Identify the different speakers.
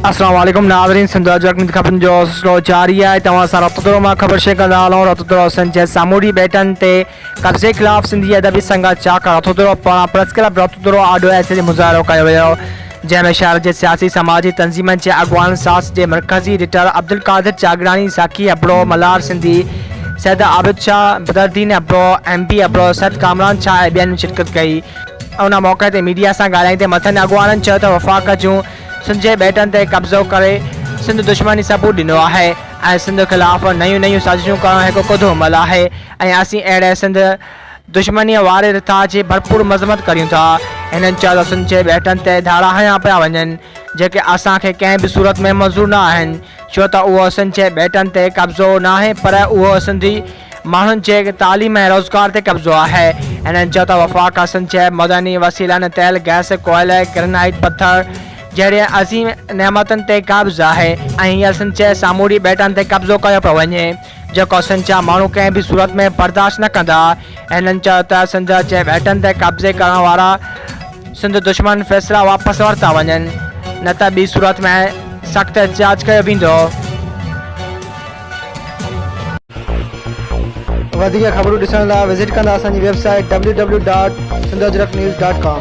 Speaker 1: السلام عليڪم ناظرين سنڌ آج اڪ خبرن جو سلسلو جاري آهي توهان سان رابطو ٿورو مان خبر شيئر ڪندا هلون رابطو ٿورو سن جي سامونڊي ٻيٽن تي قبضي خلاف سنڌي ادبي سنگت چاڪ رابطو ٿورو پاران پريس ڪلب رابطو ٿورو آڏو احتجاجي مظاهرو ڪيو ويو جنهن ۾ شهر جي سياسي سماجي تنظيمن جي اڳواڻن ساس جي مرڪزي editor Abdulqadir Chagrani, Saqi Abro, Malhar Sindhi, Syed Abid Shah, Badaruddin Abro, M B Abro, Syed Kamran Shah ۽ ٻين شرڪت ڪئي. ان موقعي تي ميڊيا سان ڳالهائيندي مٿين اڳواڻن چيو ته وفاق جون سنڌ جي ٻيٽن تي قبضو ڪري سنڌ دشمن جي ثبوت ڏنو آهي ۽ سنڌ خلاف نيون نيون سازشون ڪرڻ هڪ ڪڌو عمل آهي ۽ اسين اهڙي سنڌ دشمنيء واري رٿا جي ڀرپور مذمت ڪريون ٿا. هنن چيو ته سنڌجي ٻيٽن تي ڌاڙا هنيا پيا وڃن، جيڪي اسان کي ڪنهن به صورت ۾ منظور نه آهن، ڇو ته اهو سنڌجي ٻيٽن تي قبضو ناهي پر اهو سنڌي ماڻهن جي تعليم ۽ روزگار تي قبضو آهي. هنن چيو ته وفاق سنڌجي معدني وسيلن، تيل، گئس، ڪوئلي، گرنائيٽ پٿر جهڙين عظيم نعمتن تي قابض آهي ۽ هينئر سنڌجي سامونڊي ٻيٽن تي قبضو ڪيو پيو وڃي. جيڪو سنڌ جا ماڻهو ڪنهن به صورت ۾ برداشت نه ڪندا. هنن چيو ته سنڌ جي ٻيٽن تي قبضي ڪرڻ وارا سنڌ دشمن فيصلا واپس ورتا وڃن نه ته ٻي صورت ۾ سخت احتجاج ڪيو ويندو. وڌيڪ خبرون ڏسڻ لاء وزٽ ڪندا اسان جي website W W dot Sindh Ajrak news dot ڪام.